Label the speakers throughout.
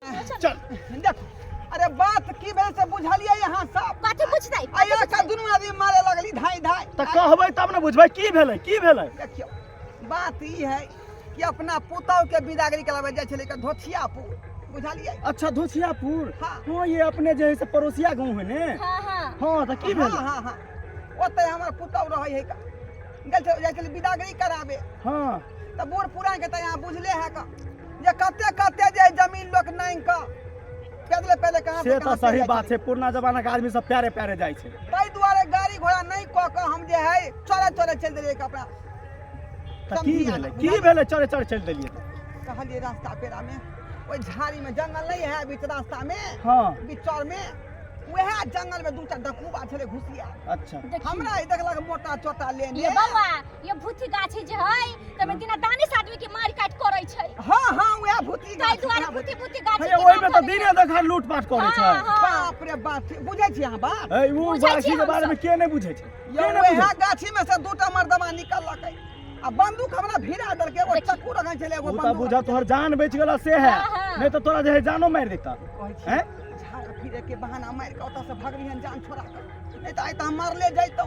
Speaker 1: चल देखो अरे बात की भेल से बुझलिए यहाँ सब कथी कुछ नहीं आया का दुनू आदमी मारे लगली धाई धाई तऽ कहबै तब ने बुझबै की भेलै की भेलै देखियो बात ई है कि अपना पुतौ के बिदागरी कराबे जाय छले के धोथियापुर बुझलिए अच्छा धोसियापुर हाँ। हाँ ये अपने जे है से पड़ोसिया गाँव है ने हाँ हाँ हाँ तऽ की हाँ भेलै हाँ हाँ ओते हमर पुतौ रहै है का गेल छल जाय छले बिदागरी कराबे हाँ तऽ बूढ़ पुरान के तऽ यहाँ बुझले है का जे कते कते जे जमीन लोक नांग क पैदले पैदले कहाँ से तऽ सही बात छै पुरना जमाना के आदमी सब प्यारे प्यारे जाइ छै ताहि दुआरे गाड़ी घोड़ा नहि कऽ कऽ हम जे है चले चले चलि देलियै कपड़ा तऽ की भेलै की भेलै चले चले चलि देलियै कहलियै रास्ता पेरा में ओहि झाड़ी में जंगल नहीं है बीच रास्ता में हाँ बिचौर में वह जंगल में दू टा डकूबा छलै घुसिया अच्छा हमरा ही देखलक मोटा चोटा लेने ये भूथी गाछी जे है तमे दिना दानिश आदमी के मार काट करै छै हां हां वएह भूथी गाछी दुआरे भूथी भूथी गाछी के ओइ में त दिने देखा लूट पाट करै छै बाप रे बाप बुझै छी अहाँ बाप ए उ गाछी के बारे में के नै बुझै छै ये वएह गाछी में से दूटा मर्दमा निकललकै आ बंदूक हमरा भिरा दल के एगो चक्कू रखै छले एगो बंदूक बुझा तोहर जान बच गेला से है हाँ, हाँ। नहीं तो तोरा जे जानो मार देता हैं झाड़ फिरे के बहाना मार के ओता से भगलियन जान छोड़ा के नहीं तो आइ त हम मारले जैतौ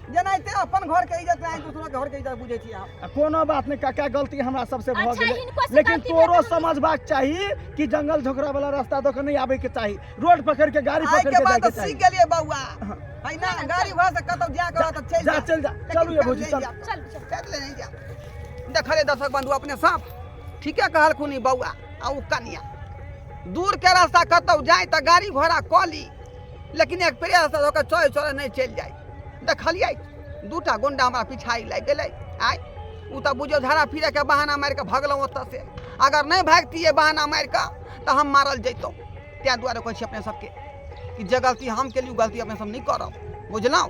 Speaker 1: जेनाहिते अपन घर के इज्जत नहीं दूसरो के घर के इज्जत बुझे छी आप कोनो बात नहीं काका गलती हमरा सबसे भ अच्छा, गेलै लेकिन तोरो समझबाक चाही कि जंगल झोकरा वाला रास्ता दो के नहीं आबे के चाही रोड पकड़ के गाड़ी पकड़ के जाए के चाही सीख गेलिए बौआ हाँ। है ना गाड़ी घर से कतौ जा के त चल जा चल जा चलू ये भौजी चल चल चल ले जा देखले दर्शक बंधु अपने साफ ठीके कहलखुन बौआ आ उ कनिया दूर के रास्ता कतौ जाए त गाड़ी घोड़ा कॉली लेकिन एक प्रेस होकर चोरे चोरे नहीं चल जाए देखलियै दूटा गोंडा हमरा पिछाई लागि गेलै आइ ओ तऽ बुझियौ झाड़ा फिरैके बहाना मारि कऽ भगलहुँ ओतऽसँ अगर नहि भागतियै बहाना मारि कऽ तऽ हम मारल जैतहुँ ताहि दुआरे कहै छी अपने सभके कि जे गलती हम केली ओ गलती अपने सभ नहि करब बुझलहुँ